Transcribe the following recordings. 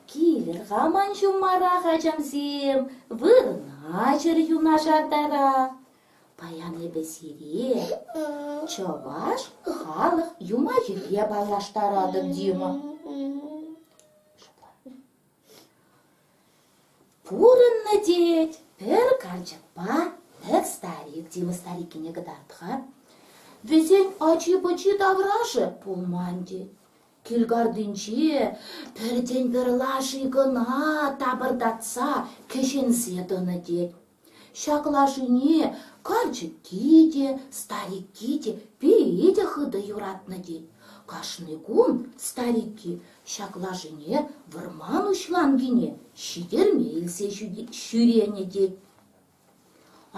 Килӗр хаман ҫуммарах, ачамсем, вырӑна-чӗр юнашартара. Паян эпӗ сире чӑваш халӑх юмахӗпе паллаштаратӑп, Дима. Пурӑннӑ тет, пӗр карчӑкпа пӗр старик, диван старикине кӑтарт-ха. Вӗсен ачи-пӑчи таврашӗ пулман тет. Килкартинче пӗртен-пӗр лаши кӑна тапӑртатса кӗҫенсе тӑнӑ тет. Ҫак лашине карчӑкки те, старикки те, пире те хытӑ юратнӑ тет. Кашни кун старикки ҫак лашине вӑрман уҫланкине ҫитерме илсе ҫӳренӗ тет.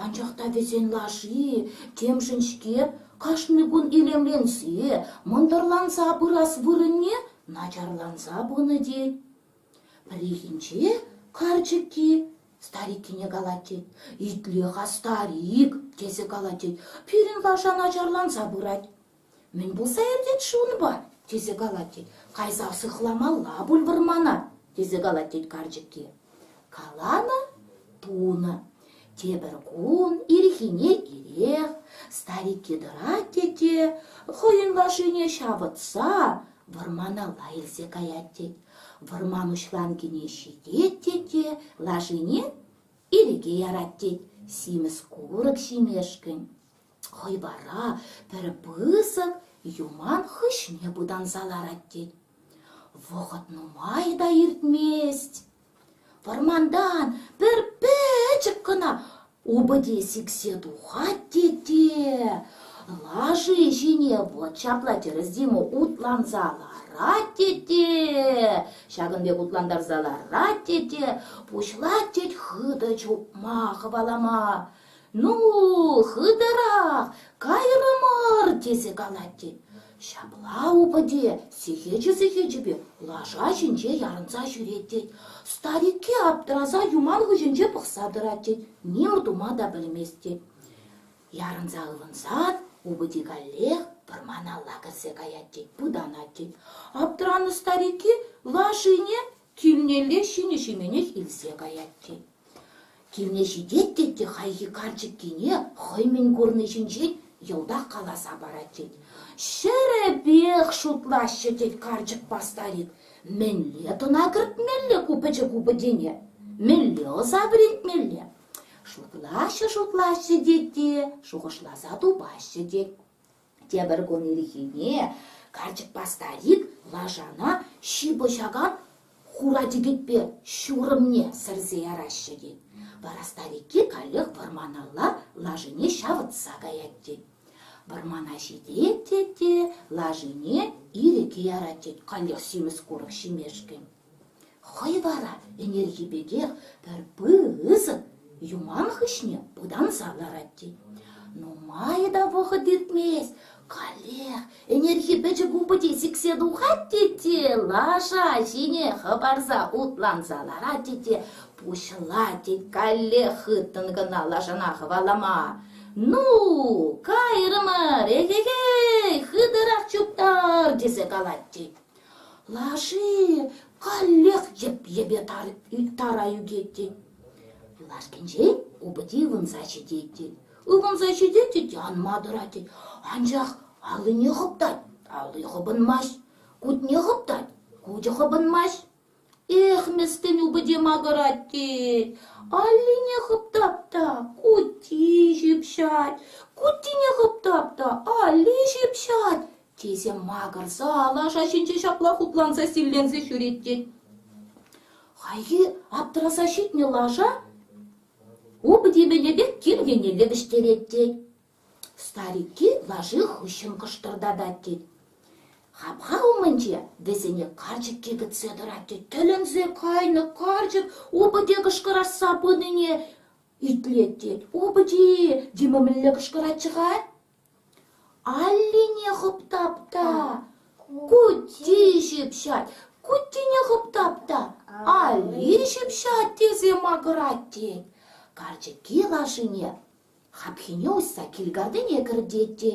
Анчах та вӗсен лаши темшӗн-ҫке кашни кун илемленсе, мӑнтӑрланса пырас вырӑнне начарланса пынӑ тет. Пӗррехинче карчӑкки стариккине калать тет: «Итле, старик!» тесе калать тет. Пирӗн лаша начарланса пырать. «Мӗн пулса иртет-ши унпа?» тесе калать тет. «Кайса сыхламалла пуль вӑрмана!» тесе калать тет карчӑкки. Каланӑ, тунӑ. Тепӗр кун ирхине ирех старикки тӑрать те те хӑйӗн лашине ҫавӑтса вӑрманалла илсе каять тет. Вӑрман уҫланкине ҫитет тет те лашине ирӗке ярать тет симӗс курӑк ҫимешкӗн. Хӑй вара пӗр пысӑк юман хыҫне пытанса ларать тет. Вӑхӑт нумай та иртмест. Вӑрмантан пӗр пӗчӗк кӑна упӑте сиксе тухать тете. Лаши ҫине вӑт ҫапла тӗрӗс Дима утланса ларать тете. Ҫакӑн пек утлантарса ларать тете. Пуҫлать тет хытӑ чупма, хӑвалама. Ну, хытӑрах кайрӑмӑр, тесе калать тет. Ҫапла, упӑте, сехечӗ-сехечӗпе лаша ҫинче ярӑнса ҫӳрет тет. Старикке аптӑраса юман хыҫӗнче пӑхса тӑрать тет, ним тума та пӗлмест тет. Ярӑнса ывӑнсах упӑте каллех вӑрманалла кӗрсе каять тет, пытанать тет. Аптӑранӑ старикки лашине Килнелле ҫинӗ-ҫименех илсе каять тет. Килне ҫитет тет те хайхи карчӑккине хӑй мӗн курни ҫинчен йӑлтах каласа парать тет. Ҫӗрӗпех шутлаҫҫӗ тет карчӑкпа старик. Мӗнле тӑна кӗртмелле ку пӗчӗк упӑтене? Мӗнле ӑса вӗрентмелле? Шутлаҫҫӗ-шутлаҫҫӗ тет те шухӑшласа тупаҫҫӗ тет. Тепӗр кун ирхине карчӑкпа старик лашана ҫыпӑҫакан хура тӗкӗтпе ҫурӑмне сӗрсе яраҫҫӗ тет. Вара старикки каллех вӑрманалла лашине ҫавӑтса каять тет. Вӑрмана ҫитет тет те лашине ирӗке ярать тет, каллех симӗс курӑк ҫимешкӗн. Хӑй вара ӗнерхи пекех пӗр пысӑк юман хыҫне пытанса ларать тет. Нумай та вӑхӑт иртмест, каллех ӗнерхи пӗчӗк упӑте сиксе тухать тет те лаша ҫине хӑпарса утланса ларать тет те пуҫлать тет каллех хыттӑн кӑна лашана хӑвалама. Ну, кайрӑмӑр, эхе-хей, хытӑрах чуптар, тесе калать тет. Лаши каллех йӗп-йӗпе тара ӳкет тет. Лашкинчен упӑти ывӑнса ҫитет тет. Ывӑнса ҫитет тет, анма тӑрать тет. Анчах аллине хӑптать, алли хӑпӑнмасть. Кутне хӑптать, кучӗ хӑпӑнмасть. Эх, мӗскӗн упӑте макӑрать-и? Аллине хӑптап та кути ҫыпҫать, кутине хӑптап та алли ҫыпҫать, тесе макӑрса лаша ҫинче ҫапла хупланса-силленсе ҫӳрет тет. Хайхи аптраса ҫитнӗ лаша упӑте мӗнӗ пек кир еннелле вӗҫтерет тет. Старикки лаши хыҫҫӑн кӑштӑртатать тет. Хапха умӗнче вӗсене карчӑкки кӗтсе тӑрать тет. Тӗлӗнсе кайнӑ карчӑк упӑте кӑшкӑрасса пынине итлет тет. Упӑти Дима мӗнле кӑшкӑратчӗ-ха? Аллине хӑптап-та, кути ҫыпҫать. Кутине хӑптап та, алли ҫыпҫать тесе макӑрать тет. Карчӑкки лашине Хапхине уҫса кил картине кӗртет те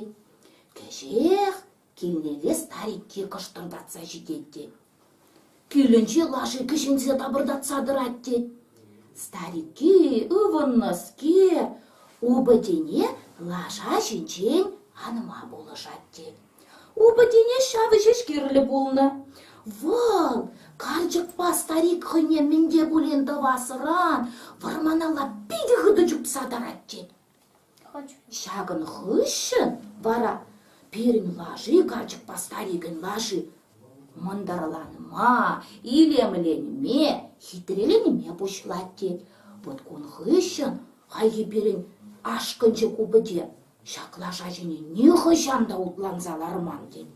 кӗҫех килнелле старикки кӑштӑртатса ҫитет те килӗнчи лаши кӗҫенсе тапӑртатса тӑрать те старикки ывӑннӑскер упӑтене лаша ҫинчен анма пулӑшать те Упӑтене ҫавӑ ҫеҫ кирлӗ пулнӑ. Вӑл карчӑкпа старик хӑйне мӗн те пулин тӑвасран вӑрманалла питӗ хытӑ чупса тӑрать тет. Ҫакӑн хыҫҫӑн вара пирӗн лаши карчӑкпа старикӗн лаши мӑнтӑрланма, илемленме, хитреленме пуҫлать тет. Вот кун хыҫҫӑн хайхи пирӗн ашкӑнчӑк упӑте Ҫак лаша ҫине нихӑҫан та утланса ларман тет.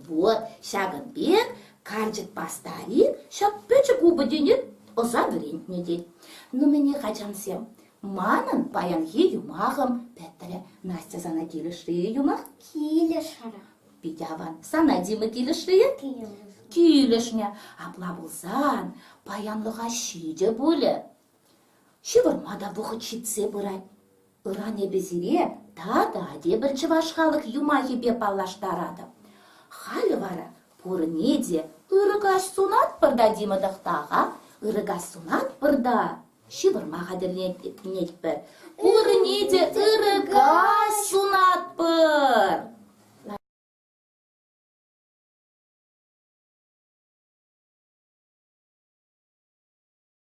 Вот ҫакӑн пек карчӑкпа старик ҫак пӗчӗк упӑтене ӑса вӗрентнӗ тет. Ну мӗне, хачансем, манӑн паянхи юмахӑм пӗтрӗ. Настя сана килӗшрӗ-и юмах? Килӗшрӗ. Питӗ аван. Сана, Дима, килӗшрӗ-и? Килӗшрӗ. Килӗшнӗ. Апла пулсан паянлӑха ҫитӗ пулӗ. Ҫывӑрма та вӑхӑт ҫитсе пырать. Ыран эпӗ сире тата тепӗр чӑваш халӑх юмахӗпе паллаштаратӑп. Халӗ вара пурне те ырӑ каҫ сунатпӑр та Дима Тӑхта-ха, ырӑ каҫ сунатпӑр та ҫывӑрма хатӗрленетпӗр. Пурне те ырӑ каҫ сунатпӑр!